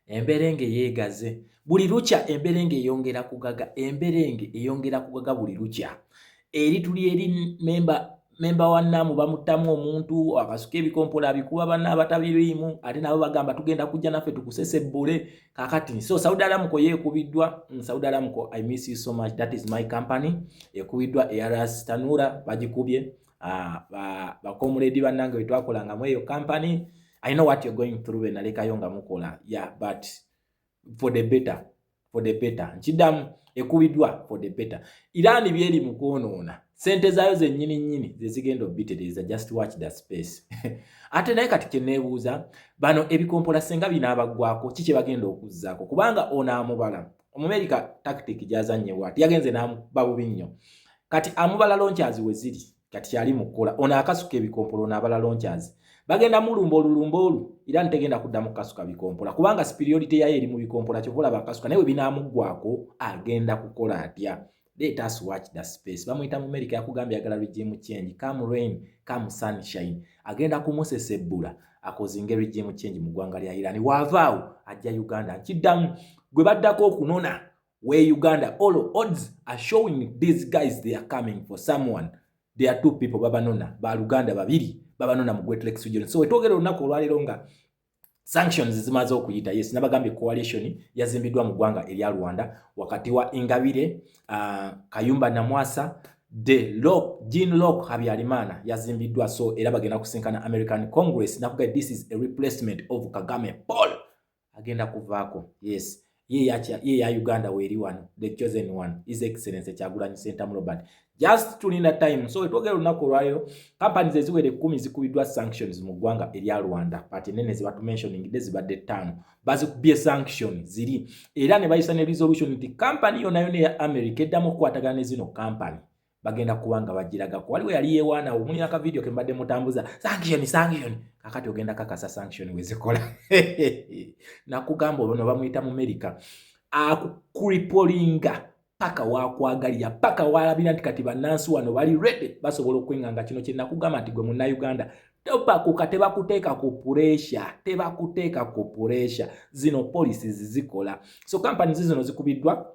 emberenge yeegaze buli lukya emberenge eyongera kugaga emberenge eyongera kugaga buli lukya eri tuli eri memba memba wa naamu bamuttamu omuntu akasuka ebikompola abikuba banna abatabiriimu ate nabo bagamba tugenda kujja naffe tukusesebbule kakati so saudi aramuko yeekubiddwa mm, saudi aramuko i miss you so much that is my company ekubiddwa eras tanura bagikubye Ah, ba bakomuledi banange wetwakolanga mu eyo company i know what you're going through benalekayo nga mukola yeah but for the better for the better nkidamu ekubidwa for the better irani byeri mukwonoona sente zayo zenyini nyini zezigenda obitereza just watch the space ate naye kati kyenebuuza bano ebikompola senga binaabagwako ki kyebagenda okuzaako kubanga onaamubala Omumerika tactic gyazannye bwati yagenze n'amuba bubi nnyo. Kati amubala loncazi we ziri kati kyali mu kkola ono akasuka ebikompolo ono abala loncazi bagenda mulumba olulumba olu era ntegenda kuddamu kukasuka bikompola kubanga superiority yayo eri mu bikompola kyova olaba akasuka naye we binaamuggwako agenda kukola atya Let us watch the space. Bamuyita mu America yakugambye agala regime change. Come rain, come sunshine. Agenda kumusesebbula akozinge regime change mu ggwanga lya Iran. Wavaawo ajja Uganda. Nkiddamu gwe baddako okunona we Uganda. All odds are showing these guys they are coming for someone. There are two people babanona. Ba Luganda babiri babanona mu Great Lakes region. So wetwogera olunaku olwaleero nga sanctions zimaze okuyita yes nabagambye coalition yazimbiddwa mu ggwanga erya rwanda wakati wa ingabire uh, kayumba namwasa de lok jean lok habyarimana yazimbiddwa so era bagenda kusinkana american congress nakuga this is a replacement of kagame paul agenda kuvaako yes Ye yakya ye ya Uganda weri wano the chosen one is excellence kyagulanyi sentamu Robert just tulinda time so twogera olunaku olwalero companies eziwera ekkumi zikubiddwa sanctions mu ggwanga erya rwanda pati nene zebatumentioningidde zibadde ttaano bazikubye sanction ziri era ne bayisa ne resolution nti company yonayona eya america eddamu okukwatagana ne zino company bagenda kuba nga bagiragako waliwo yali yewaanawo omuli naka vidiyo ke mbadde mutambuza sanction sanction kakati ogenda kakasa sanction wezikola nakugamba olwo no bamuyita mu merika akukripolinga paka wakwagalira paka walabira nti kati bannansi wano bali rede basobola okwenganga kino kyenakugamba nti gwe munnauganda topakuka tebakuteeka ku puresha tebakuteeka ku puresha zino policies zikola so companies zino zikubiddwa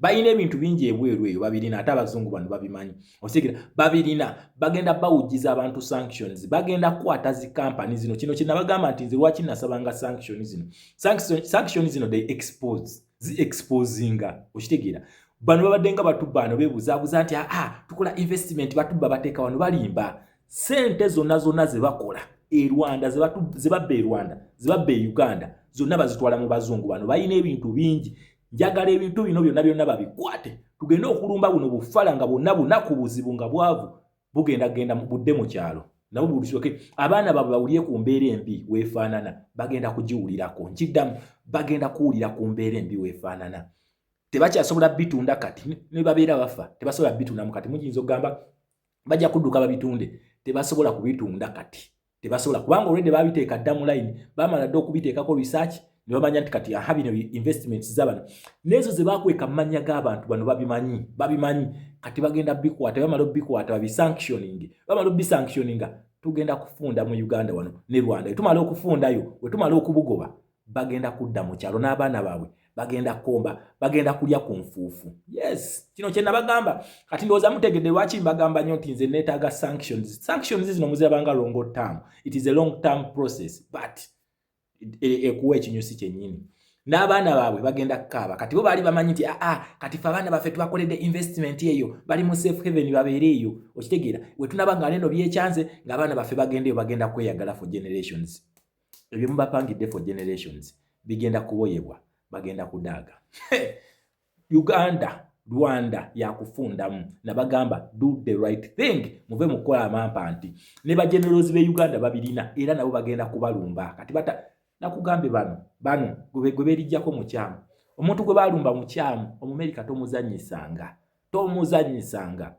balina ebintu bingi ebweru eyo babirina ate abazungu bano babimanyi osigera babirina bagenda bawujiza abantu sanctions bagenda kukwata zi kampani zino kino kinabagamba nti nze lwaki nasabanga sanction zino sanction zino they expose zi exposinga okitegeera bano babadde nga batubba ano bebuzabuza nti aa ah, ah, tukola investment batubba bateeka wano balimba sente zonna zonna zebakola e rwanda zebabba e rwanda zebabba e uganda zonna bazitwala mu bazungu bano balina ebintu bingi njagala ebintu bino byonna byonna babikwate tugende okulumba buno bufala nga bwonna bunaku buzibu nga bwavu bugenda genda budde mu kyalo nabo bulisoke abaana babwe bawulire ku mbeera embi weefaanana bagenda kugiwulirako nkiddamu bagenda kuwulira ku mbeera embi weefaanana tebakyasobola bitunda kati ne babeera bafa tebasobola bitundamu kati muyinza okugamba bajja kudduka babitunde tebasobola kubitunda kati tebasobola kubanga olwedde babiteeka dda mu layini bamala dda okubiteekako research ne bamanya nti kati aha bino investments zabano n'ezo ze bakweka mu mannya g'abantu bano babimanyi babimanyi kati bagenda bikwata bamala obikwata babisanctioning bamala obisanctioninga tugenda kufunda mu uganda wano ne rwanda wetumala okufundayo wetumala okubugoba bagenda kudda mu kyalo n'abaana baabwe bagenda kukomba bagenda kulya ku nfuufu yes kino kye nabagamba kati ndowooza mutegedde lwaki mbagamba nnyo nti nze neetaaga sanctions sanctions zino muzirabanga longo term it is a long term process but e, ekuwa ekinyusi kyennyini n'abaana baabwe bagenda kukaaba kati bo baali bamanyi nti aa ah, ah, kati fe abaana baffe tubakoledde investment eyo bali mu safe haven babeere eyo okitegeera wetunaba nga neno byekyanze ng'abaana baffe bagenda eyo bagenda kweyagala for generations ebyo mubapangidde for generations bigenda kuboyebwa bagenda kudaaga uganda rwanda yakufundamu nabagamba do the right thing muve mukukola amampa nti ne bagenerozi be uganda babirina era nabo bagenda kubalumba kati bata nakugambye bano bano gwe berijjako mukyamu omuntu gwe balumba mukyamu omumerika tomuzanyisanga tomuzanyisanga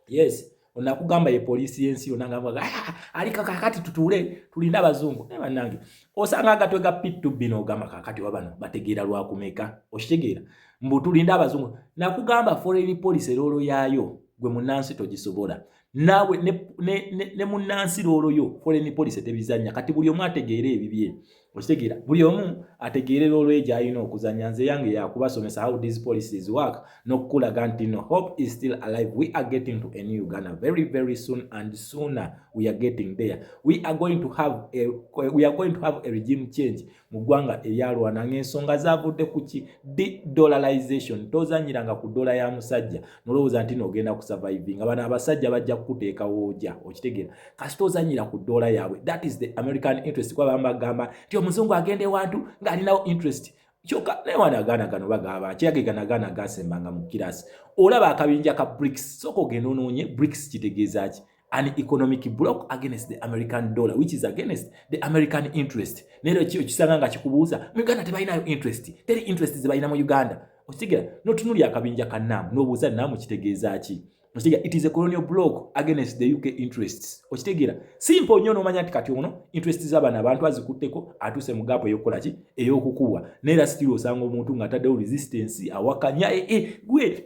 yes onakugamba ye poliisi y'ensi yona nga ah, ah, aliko kakati tutuule tulina abazungu naye banange osanga agatwe ga pittu bino ogamba kakati wabano bategeera lwakumeka okitegeera mbu tulinde abazungu nakugamba foreign policy eroolo yaayo gwe munansi togisobola naawe ne, ne, ne, ne munnansi looloyo foreign policy tebizanya kati buli omu ategeera ebibye okitegeera buli omu ategeere looloye gyalina okuzanya nze yange yakubasomesa how these policies work nokukulaga nti no hope is still alive we are getting to a new uganda very very soon and sooner we are getting there we are going to have a, we are going to have a regime change mu ggwanga eryalwana ng'ensonga zavudde ku ki dedollarization tozanyiranga ku dola ya musajja nolowooza nti noogenda ku surviving nga bano abasajja bajja kukuteeka wooja okitegeera kasi tozanyira ku dola yaabwe that is the american interest kuba bamu bagamba nti omuzungu agenda ewantu ng'alinawo interest kyoka naye wana agaana gano bagamba kyeyage gano agaana gasembanga mu kirasi olaba akabinja ka brics sooka ogenda onoonye brics kitegeeza ki an economic block against the american dollar which is against the american interest nero kyo kisanga nga kikubuuza mu uganda tebalinayo interest teri interest zebalina mu uganda okitegera notunulya akabinja ka nam nobuuza nam kitegeeza ki okitegera it is a colonial block against the uk interests okitegera simple nnyo nomanya nti kati ono interest zabana abantu azikutteko atuuse mu gaapu eyokukola ki eyokukubwa naera still osanga omuntu nga ataddewo resistance awakanya ee eh, eh, gwe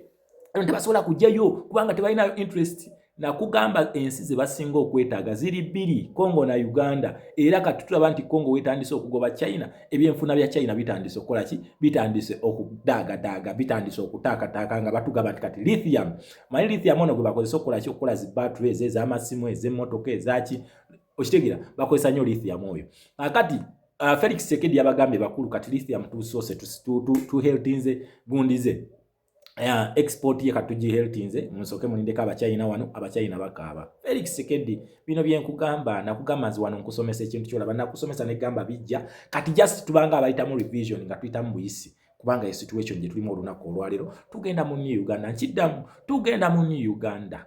tebasobola kujjayo kubanga tebalina interest nakugamba ensi zebasinga okwetaaga ziri bbiri congo na uganda era kati tulaba nti congo wetandise okugoba china ebyenfuna bya china bitandise okukola ki bitandise okudaagadaaga bitandise okutaakataaka nga batugamba nti kati lithium manyi lithium ono gwe bakozesa okukola ki okukola zi battery ezo ez'amasimu ez'emmotoka ezaki okitegera bakozesa nnyo lithium oyo akati uh, felix sekedi yabagambye bakulu kati lithium tusoose tuheltinze gundize Uh, export ye katuji health nze musoke mulindeko abachina wano abachina bakaaba Felix Sekedi bino byenkugamba nakugamba nzi wano nkusomesa ekintu kyolaba nakusomesa negamba bijja kati just tubanga abayitamu revision nga tuyitamu buyisi kubanga esituation gye tulimu olunaku olwalero tugenda mu new uganda nkiddamu tugenda mu new uganda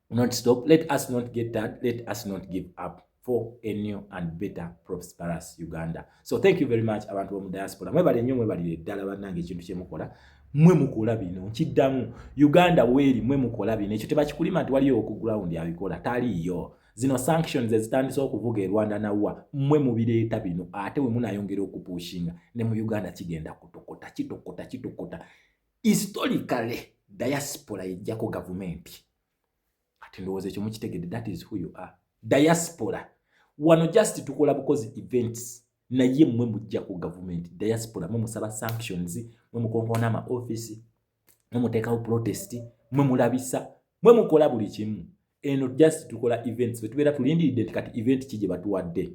not stop let us not get that let us not give up for a new and better prosperous uganda so thank you very much abantu bomu diaspora mwebale nnyo mwebalire ddala bannange ekintu kyemukola mwe mukola bino nkiddamu uganda weeri mwe mukola bino ekyo tebakikulima nti waliyo oku ground abikola taliiyo zino sanctions ezitandise okuvuga e rwanda nawa mwe mubireeta bino ate wemunayongera okupushinga ne mu uganda kigenda kutokota kitokota kitokota historically diaspora yejjako gavumenti ati ndowooza ekyo mukitegedde that is who you are diaspora wano just tukola bukozi events naye mwe mujjako gavumenti diaspora mwe musaba sanctions mwe mukonkoona ama office mwe muteekawo protest mwe mulabisa mwe mukola buli kimu eno just tukola events fe tubeera tulindiridde nti kati event ki gye batuwadde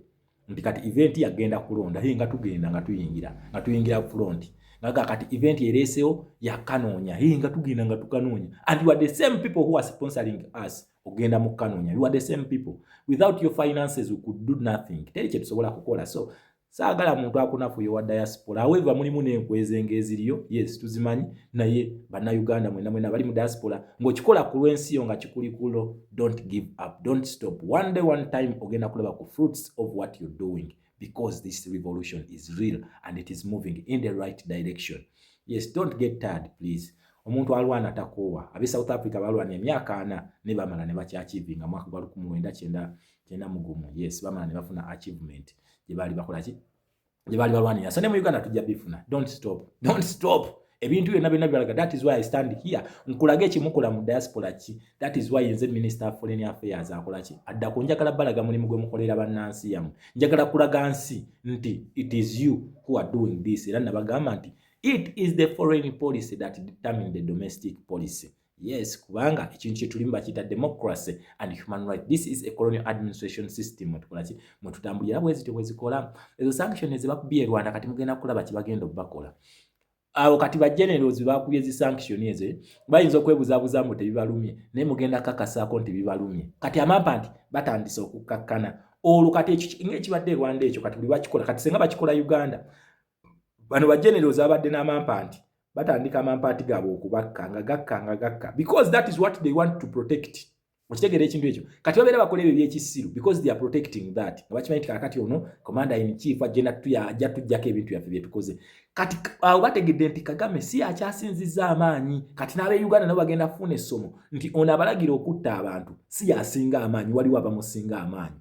nti kati event yagenda kulonda hii nga tugenda nga tuyingira nga tuyingira front ngaga kati event ereesewo yakanoonya hii nga tugenda nga tukanoonya and you are the same people who are sponsoring us ogenda mu kanoonya you are the same people without your finances we could do nothing teri kye tusobola kukola so saagala muntu akunafuye wa diaspora however mulimu n'enkwezo nga eziriyo yes tuzimanyi naye bannayuganda mwena mwena bali mu diaspora ng'okikola ku lw'ensi yo nga kikuli kulo don't give up don't stop one day one time ogenda kulaba ku fruits of what you're doing because this revolution is real and it is moving in the right direction yes don't get tired please omuntu alwana takoowa abe south africa balwana emyaka ana ne bamala ne bakyakivinga mwaka gwa lukumi lwenda kyenda kyenda mugumu yes bamala ne bafuna achievement gye baali bakola ki gye baali balwanira so ne mu uganda tujja bifuna don't stop don't stop ebintu byonna byonna bibalaga that is why i stand here nkulaga ekimukola mu diaspora ki that is why nze minister of foreign affairs akola ki adda ku njagala balaga mulimu gwe mukolera bannansi yamu njagala kulaga nsi nti it is you who are doing this era nabagamba nti it is the foreign policy that determine the domestic policy Yes, kubanga ekintu kyetulimu bakiyita democracy and human right. This is a colonial administration system mwetukola ki mwetutambulira bwe zityo bwe zikola ezo sanction ezibakubye Rwanda kati mugenda kulaba kibagenda okubakola awo kati ba generals bakubye zi sanction ezo eh? bayinza okwebuzabuza mbu tebibalumye naye mugenda kakasaako nti bibalumye kati amampa nti batandise okukkakkana olwo kati ekyo ngekibadde Rwanda ekyo kati buli bakikola kati senga bakikola Uganda bano ba generals abadde n'amampa nti batandika amampaati gaabwe okubakka nga gakka nga gakka because that is what they want to protect okitegeera ekintu ekyo kati babeera bakola ebyo ebyekisiru because they are protecting that nga bakimanyi nti kakati ono commander in chief agenda tuyaja tujjako ebintu byaffe byetukoze kati awo bategedde nti kagame si akyasinzizza amaanyi kati n'abe uganda nabo bagenda kufuuna essomo nti ono abalagira okutta abantu si yasinga amaanyi waliwo abamusinga amaanyi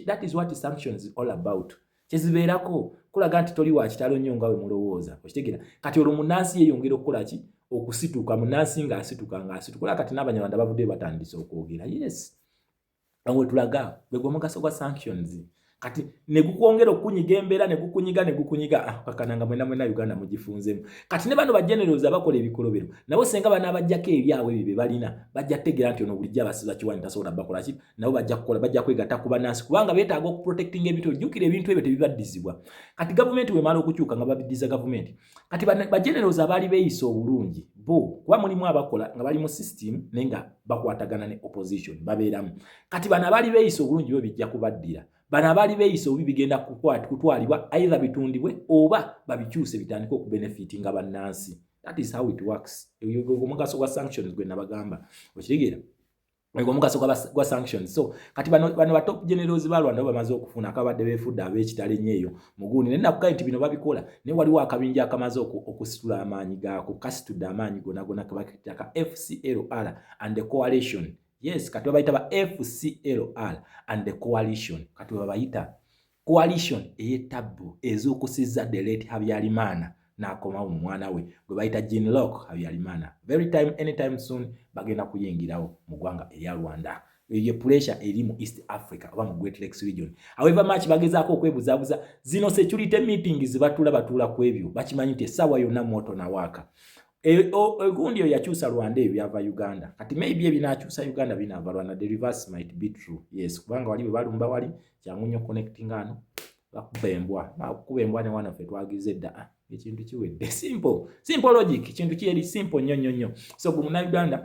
that is what sanctions all about kyezibeerako kulaga nti toli wakitalo nnyo nga wemulowooza okitegera kati olwo munansi yeyongera okukola ki okusituka munansi nga asituka nga asituka olaba kati n'abanyarwanda bavudde batandise okwogera yes wetulaga gwe gwomugaso gwa sanctions kati negukwongera okukunyiga embeera negukunyiga negukunyiga ah, kakana nga mwena mwena uganda mugifunzemu kati ne bano bajenerozi abakola ebikolobero nabo senga banaabajjako ebyabwe ebyo bye balina bajja kutegeera nti ono bulijjo abasiza kiwani tasobola bakolaki nabo bajja kukola bajja kwegatta ku bannansi kubanga beetaaga okuprotectinga ebintu ojjukira ebintu ebyo tebibaddizibwa kati gavumenti wemala okukyuka nga babiddiza gavumenti kati bagenerozi abaali beeyisa obulungi bo kuba mulimu abakola nga bali mu system naye nga bakwatagana ne opposition babeeramu kati bano abaali beeyisa obulungi bo bijja kubaddira bano abaali beeyisa obubi bigenda kutwalibwa aidha bitundibwe oba babikyuse bitandike okubenefiti nga bannansi that is how it works omugaso gwa sanctions gwe nabagamba okitegeera ego mugaso gwa, gwa sanctions so kati bano, bano ba top generals ba Rwanda bamaze okufuna akabadde beefudde ab'ekitale nnyo eyo muguuni naye nakugaa nti bino babikola naye waliwo akabinja akamaze okusitula amaanyi gaako kasitudde amaanyi gonagona kebakitaka FCLR and the coalition yes kati babayita ba FCLR and the coalition kati webabayita Coalition ey'ettabbu ezuukusizza the late Habyarimana n'akomawo mu mwana we gwe bayita Jean Lok Habyarimana. Very time anytime soon bagenda kuyingirawo mu ggwanga erya Rwanda. Eyo ye puresha eri mu East Africa oba mu Great Lakes region. However much bagezaako okwebuzaabuza zino security meeting zibatula batuula ku ebyo bakimanyi nti essaawa yonna mwoto na waaka. Egundi e, eyo yakyusa Rwanda ebyo byava Uganda. Kati maybe ebinakyusa Uganda binaava Rwanda. The reverse might be true. Yes, kubanga wali bwe balumba wali kyangu nnyo connectinga ano bakuba embwa bakuba embwa ne wana ffe twagize edda ah, ekintu kiwedde simple simple logic ekintu kiyeri simple nnyo nnyo nnyo so gwe munauganda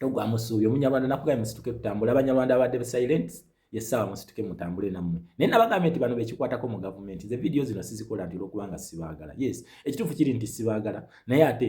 togwa musuubi omunyarwanda nakugaye musituke tutambule abanyarwanda abadde silent yesaawa musituke mutambule nammwe naye nabagambye nti bano bekikwatako mu gavumenti ze vidiyo zino sizikola nti olwokubanga sibaagala yes ekituufu kiri nti sibaagala naye ate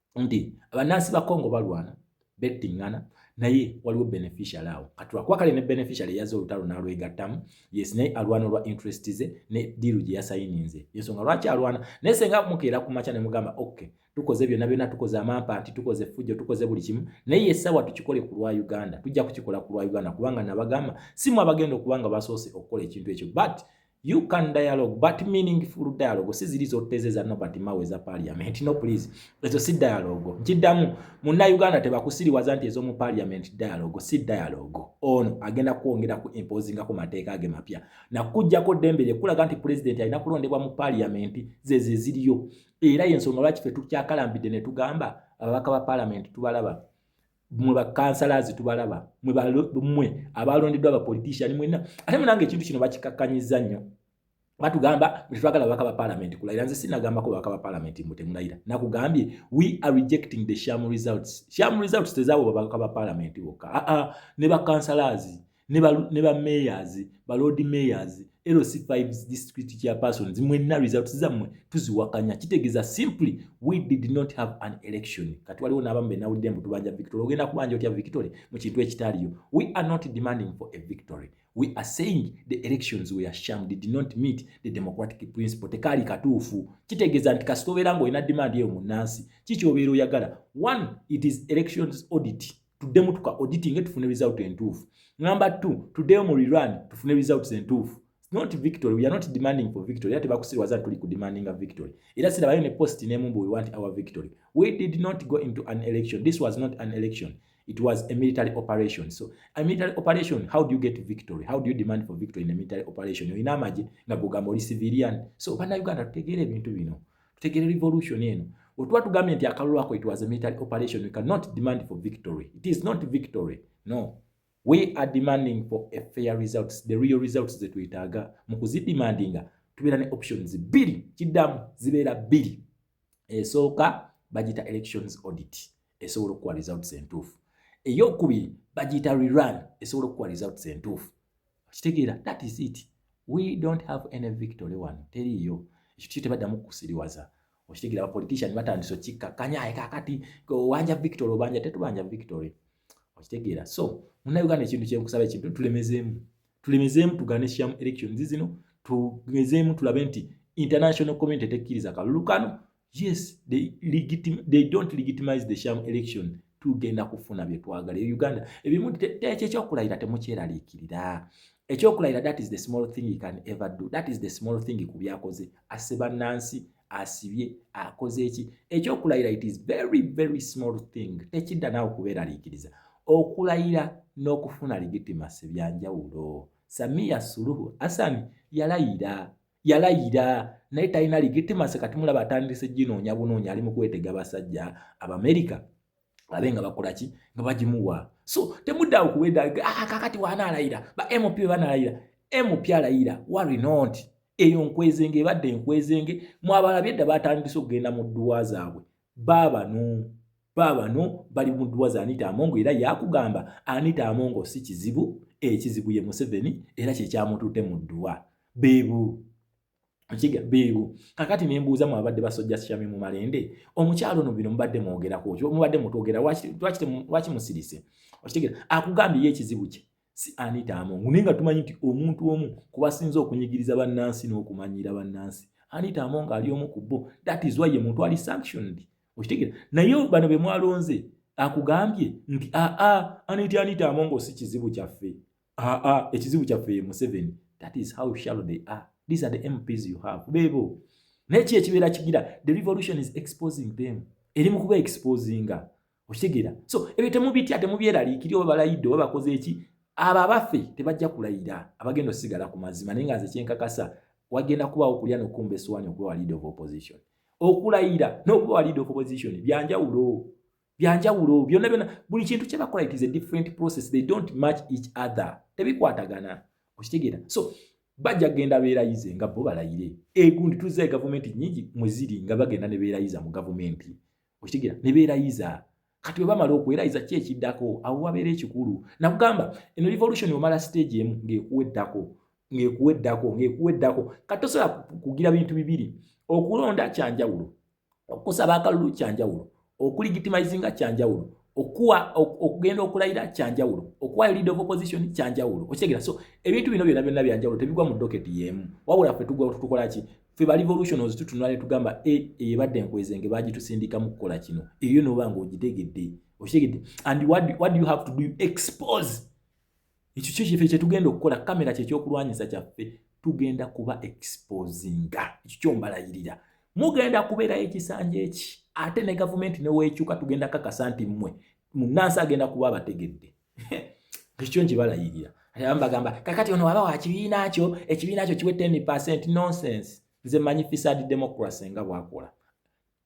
nti abannansi ba congo balwana bettingana naye waliwo beneficial awo katulakwakale ne beneficial eyaza olutalo nalwegattamu yes naye alwana olwa interest ze ne diiru gye yasayininze yensonga lwaki alwana naye senga mukeera ku makya nemugamba ok tukoze byonna byonna tukoze amampa nti tukoze fujjo tukoze buli kimu naye yessawa tukikole ku lwa uganda tujja kukikola ku lwa uganda kubanga nabagamba simu abagenda okubanga basoose okukola ekintu ekyo but You can dialogue but meaningful dialogue si ziri zoteze za Nobert Mao eza parliament no please ezo si dialogue nkidamu munna Uganda tebakusiriwaza nti ezomu parliament dialogue si dialogue ono agenda kwongera ku imposing ku mateeka age mapya na kujjako dembe lye kulaga nti president alina kulondebwa mu parliament zeze ziriyo era yensonga lwaki fe tukyakalambidde ne tugamba ababaka ba parliament tubalaba mwe bakansalazi tubalaba mwe abalondeddwa abapolitician mwena ate munange ekintu kino bakikakkanyiza nnyo batugamba tetwagala babaka ba palamenti kulayira nze sinagambako babaka ba palamenti mbu temulayira nakugambye we are rejecting the sham results sham results tezaabo babaka ba palamenti bokka aa ne bakansalazi ne ba mayors ba lord mayors lc5 district chairpersons mwenna results zammwe tuziwakanya kitegeeza simply we did not have an election kati waliwo n'abamu benawulidde mbu tubanja victory ogenda kubanja otya victory mu kintu ekitaliyo we are not demanding for a victory we are saying the elections were sham did not meet the democratic principle tekaali katuufu kitegeeza nti kasita obeera ng'olina demand eyo mu nnansi kikyobeera oyagala one it is elections audit tuddemu tuka auditing tufune result entuufu number two tuddeyo mu rerun tufune results entuufu not victory we are not demanding for victory ate bakusirwaza tuli ku demanding a victory era sira bayo ne post ne mumbu we want our victory we did not go into an election this was not an election it was a military operation so a military operation how do you get victory how do you demand for victory in a military operation oyina amaje nga gugamba oli civilian so bana uganda tutegeera ebintu bino tutegere revolution eno wetuba tugambye nti akalulu ako it was a military operation we cannot demand for victory it is not victory no we are demanding for a fair results the real results zetwetaaga mu kuzidemandinga tubeera ne options bbiri kiddamu zibeera bbiri esooka bagita elections audit esobola okukuwa results entuufu eyokubiri bagiyita rerun esobola okukuwa results entuufu okitegeera that is it we don't have any victory wano teriiyo ekyo kyo tebaddamu kukusiriwaza okitegeera abapolitician batandise okikkakkanya aye kakati owanja victory obanja tetubanja victory okitegeera so munauganda ekintu kyenkusaba ekintu tulemezeemu tulemezeemu tugane sham elections zino tugezeemu tulabe nti international community tekkiriza kalulu kano yes they, legitim they don't legitimize the sham election tugenda kufuna byetwagala e uganda ebimu tekyo ekyokulayira temukyeraliikirira ekyokulayira that is the small thing you can ever do that is the small thing ku byakoze asse bannansi asibye akoze eki ekyokulayira it is very very small thing tekidda naawe kubeeraliikiriza okulayira n'okufuna legitimacy byanjawulo samiya suluhu asani yalayira yalayira naye talina ligitimase kati mulaba atandise ginoonya bunoonya ali mu kwetega basajja abamerika babe nga bakola ki nga bagimuwa so temudda okuweda ah, kakati wanaalayira ba mp banalayira mp alayira wari not eyo nkwezenge ebadde enkwezenge mwabalabye dda batandise okugenda mu dduwa zaabwe Baabano baabano bali mu dduwa za Anita Amongo era yakugamba Anita Amongo si kizibu, ekizibu ye Museveni era kye kyamututte mu dduwa. Beebo Okiga beebo kakati ne mbuuza mu abadde basojja Shami mu malende omukyalo ono bino mubadde mwogerako ki mubadde mutwogera lwaki lwaki lwaki musirise okitegera akugambye ye ekizibu kye si Anita Among naye nga tumanyi nti omuntu omu ku basinze okunyigiriza bannansi n'okumanyiira bannansi Anita Among ali omu ku bo that is why ye muntu ali sanctioned okitegeera naye bano be mwalonze akugambye nti aa Anita Anita Among si kizibu kyaffe aa ekizibu kyaffe ye Museveni that is how shallow they are these are the MPs you have beebo naye ki ekibeera kigira the revolution is exposing them eri mu kuba exposinga okitegeera so ebyo temubitya temubyeraliikiri oba balayidde oba bakoze eki abo abaffe tebajja kulayira abagenda osigala ku mazima naye nga nze kyenkakasa wagenda kubaawo okulya nokumba esuwaani okuba walid of opposition okulayira nokuba walid of opposition byanjawulo byanjawulo byonna byonna buli kintu kyebakola it is a different process they don't match each other tebikwatagana okitegeera so bajja kugenda beerayize nga bo balayire egundi tuzza e gavumenti nyingi mweziri nga bagenda ne beerayiza mu gavumenti okitegera ne beerayiza kati bwe bamala okwerayiza ki ekiddako awo wabeera ekikulu nakugamba eno revolution omala stage emu ng'ekuweddako ng'ekuweddako ng'ekuweddako kati tosobola kugira bintu bibiri okulonda kyanjawulo okusaba akalulu kyanjawulo okuligitimayizinga kyanjawulo okuwa okugenda okulayira kyanjawulo okuwayo lead of opposition kyanjawulo okitegera so ebintu bino byona byonna byanjawulo tebigwa mu doketi yeemu wabula fe tutukolaki ffe ba revolutionals tutunula ne tugamba e, eyo ebadde enkwezenge bagitusindika mu kukola kino eyo noba nga ogitegedde okitegedde and what, what do you have to do expose ekyo kyo kyefe kyetugenda okukola kamera kyekyokulwanyisa kyaffe tugenda kuba exposinga ekyo kyombalayirira mugenda kubeerayo ekisanja eki ate ne gavumenti neweekyuka tugenda kakasa nti mmwe munansi agenda kuba abategedde ekyo nkibalayirira abamu bagamba kakati ono waba wakibiina kyo ekibiina kyo kiwe 10 percent nonsense nze manyi fisad democracy nga bwakola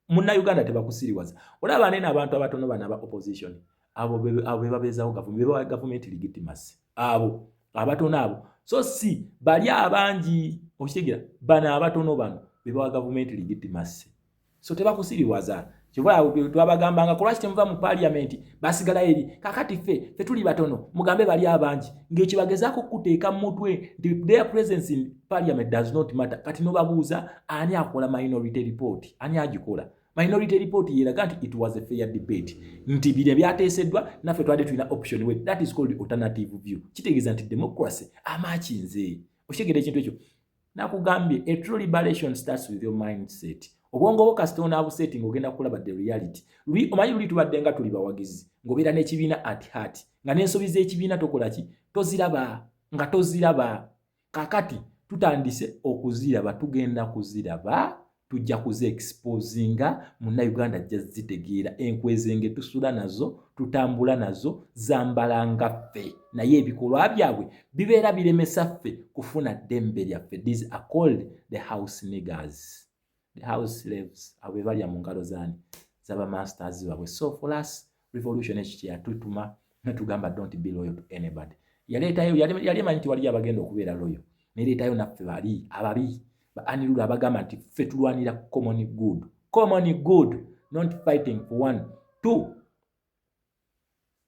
munna uganda tebakusiriwaza olaba nene abantu abatono bana aba opposition abo bebabeezawo gavumenti bebawa gavumenti legitimacy abo abatono abo so si bali abangi okitegera bano abatono bano bebawa gavumenti legitimacy so tebakusibiwaza kyova twabagambanga kulwaki temuva mu paliamenti basigala eri kakati ffe fe tuli batono mugambe bali abangi ngekyo bagezaako okukuteeka mu mutwe nti their presence in parliament does not matter kati nobabuuza ani akola minority report ani agikola minority report yeraga nti it was a fair debate nti bino byateeseddwa naffe twali tulina option way that is called alternative view kitegeeza nti democracy amakinze okitegera ekintu ekyo nakugambye a true liberation starts with your mindset obwongo bwo kasita onaabuseeti ng'ogenda kulaba the reality luli omanyi luli tubadde nga tuli bawagizi ng'obeera n'ekibiina at heart nga n'ensobi z'ekibiina tokola ki toziraba nga toziraba kakati tutandise okuziraba tugenda kuziraba tujja kuze exposinga muna uganda ajja zitegeera enkwezenge tusula nazo tutambula nazo zambala nga ffe naye ebikolwa byabwe bibeera biremesa ffe kufuna ddembe lyaffe these are called the house niggers the house slaves abo bebalya mu ngalo zani zaba masters babwe so for us revolution ekyo kyeyatutuma netugamba don't be loyal to anybody yaleetayo yali emanyi nti waliyo abagenda okubeera loyo neleetayo naffe bali ababi baanilulu abagamba nti ffe tulwanira common good common good not fighting for one two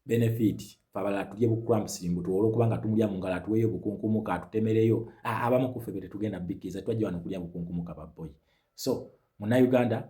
benefit fabala tulye bukuramsingu tuwole okuba nga tumulya mu ngalo atuweeyo bukunkumuka atutemereyo abamu kuffe be tetugenda bikiriza twajja wano okulya bukunkumuka baboyi so munauganda